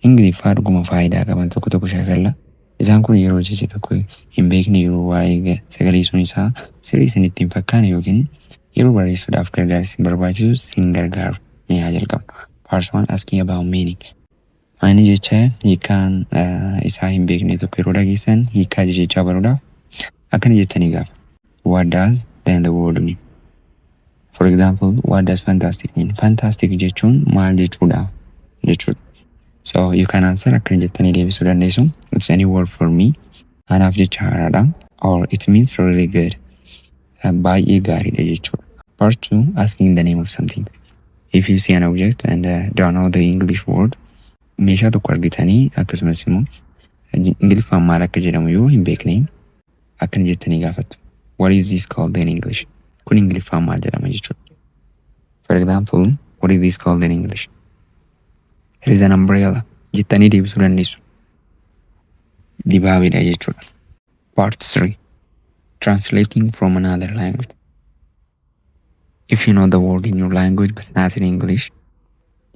Ingiliffaa dhuguma faayidaa qaban tokko tokko shaakalla. Isaan kun yeroo jecha tokko hin beekne yoo waa'ee ga sagaleessuun isaa sirrii isinitti hin fakkaane ykn yeroo barreessuudhaaf gargaarsi isin barbaachisu sin gargaaru. Mee haa jalqabnu. Parts 1 Asking about meaning. Maayini jecha hiikkaan isaa hin beekne tokko yeroo dhageessan hiikkaa jechichaa baruudhaaf akkana jettanii gaafattu. What does then the word mean? For example, what does fantastic mean? Fantastic jechuun maal jechuudha? jechuudha. So you can answer akkana jettanii deebisuu dandeessu. It's a new word for me. Anaaf jecha haaraadha. Or it means really good. Baay'ee gaariidha jechuudha. Part 2 asking the name of something. If you see an object and uh, don't know the English word, meeshaa tokko argitanii akkasumas immoo Ingiliffaan maal akka jedhamu yoo hin beekne akkana jettanii gaafattu. What is this called in English? Kun Ingiliffaan maal jedhama jechuudha. For example, what is this called in English? Here is an umbrella. Jettanii deebisuu dandeessu. Dibaabeedha jechuudha. Part 3. Translating from another language. If you know the word in your language but not in English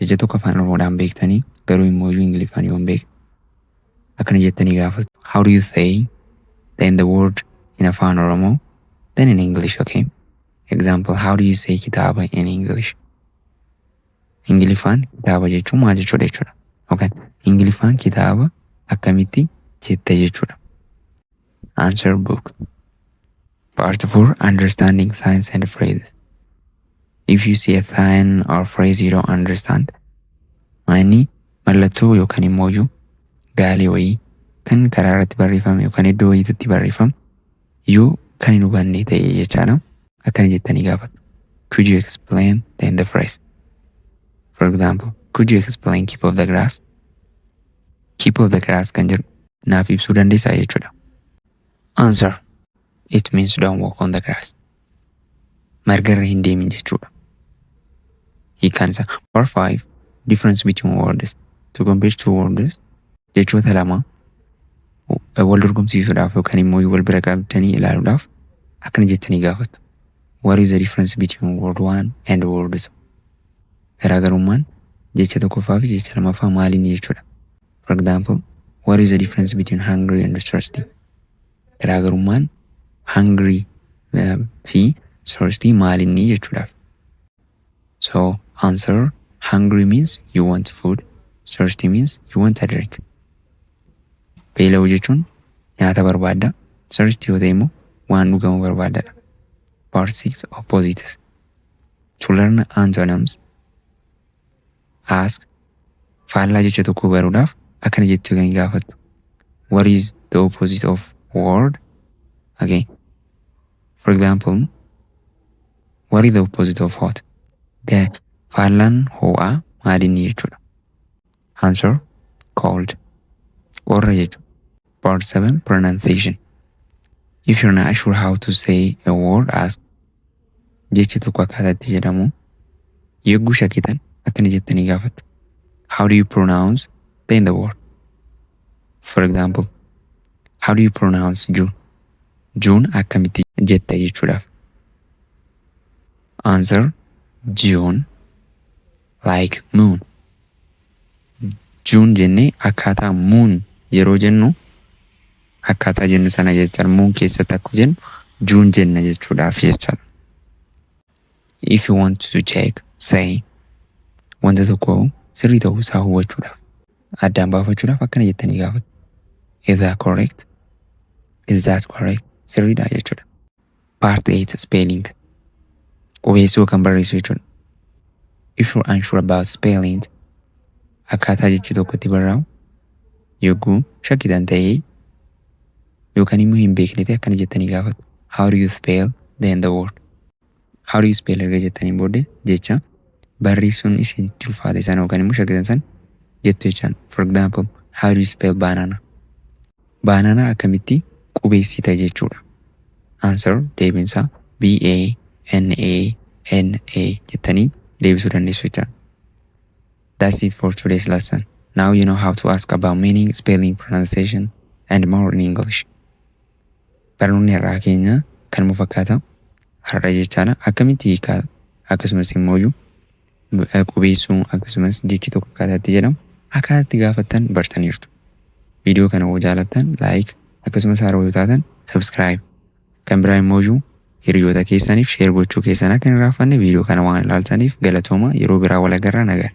jecha tokko afaan Oromoodhaan beektanii garuu immoo iyyuu Ingiliffaan yoo hin beekne akkana jettanii gaafatu. How do you say then the word in afaan Oromoo then in English okay? Example how do you say kitaaba in English? Ingiliffaan kitaaba jechuun maal jechuudha jechuudha. Yookaan Ingiliffaan kitaaba akkamitti jetta jechuudha. Answer Book Part 4 Understanding Signs and Phrases If you see a sign or phrase you don't understand Maanni mallattoo yookaan immoo iyyuu gaalee wayii kan karaa irratti barreeffame yookaan iddoo wayiitti barreeffame yoo kan hin hubanne ta'e jechaadha. Akkana jettanii gaafatu. Could you explain then the phrase? For example, could you explain keep of the grass? Keep of the grass kan jedhu naaf ibsuu dandeessaa jechuudha. Answer. It means don't walk on the grass. Marga irra hin deemin jechuudha. Hiikaan isaa. Or five, difference between words. To compare two words, jechoota lama wal dorgomsiisuudhaaf yookaan immoo wal bira qabdanii ilaaluudhaaf akkana jettanii gaafattu. What is the difference between word one and word two? Garaagarummaan jecha tokkoffaa fi jecha lamaffaa maal inni jechuudha? For example, what is the difference between hungry and thirsty? Garaagarummaan hungry eh, fi thirsty maal inni jechuudhaaf. So answer hungry means you want food, thirsty means you want a drink. Beela'uu jechuun nyaata barbaadda, thirsty yoo ta'e immoo waan dhugamu barbaadadha. Part 6 Opposites To learn antonyms, ask faallaa jecha tokkoo baruudhaaf akkana jettee kan gaafattu. What is the opposite of word? Okay. For example, what is the opposite of hot? The faallaan hoo'aa maalinni jechuudha. Answer, cold. Qorra jechuudha. Part 7 Pronunciation If you're not sure how to say a word, ask. Jecha tokko akkaataa itti jedhamu yogguu shakkitan akkana jettanii gaafattu. How do you pronounce then the word? For example, how do you pronounce June? June akkamitti jetta jechuudhaaf. Answer, June like moon. June jennee akkaataa moon yeroo jennu akkaataa jennu sana jechuudha. Moon keessatti akkuma jennu June jenna jechuudhaaf jechuudha. If you want to check say wanta tokko sirrii ta'uu isaa hubachuudhaaf addaan baafachuudhaaf akkana jettanii gaafatu. Is that correct? Is that correct? Sirriidha jechuudha. Part 8 Spelling Qubeessuu yookaan barreessuu jechuudha. If you're unsure about spelling akkaataa jechi tokko itti barraa'u yogguu shakkitan ta'ee yookaan immoo hin beekne ta'e akkana jettanii gaafatu. How do you spell then the word? How do you spell erga jettaniin booddee jecha barreessuun isin itti ulfaate sana yookaan immoo shakkitan sana jettu jechaan. For example, how do you spell banana? Baananaa akkamitti qubeessita jechuudha. Answer, deebiin isaa B A N A N A jettanii deebisuu dandeessu jechaadha. That's it for today's lesson. Now you know how to ask about meaning, spelling, pronunciation and more in English. Barnoonni har'aa keenya kanuma fakkaata. Har'a jechaadha. Akkamitti hiikaa akkasumas immoo qubeessuu akkasumas jechi tokko akkaataa itti jedhamu akkaataa itti gaafattan bartaniirtu. Viidiyoo kana yoo jaalattan like akkasumas haaroo yoo taatan subscribe kan biraa immoo hiriyoota keessaniif share gochuu keessan akka hin irraanfanne viidiyoo kana waan ilaaltaniif galatooma yeroo biraa wal agarra nagaan.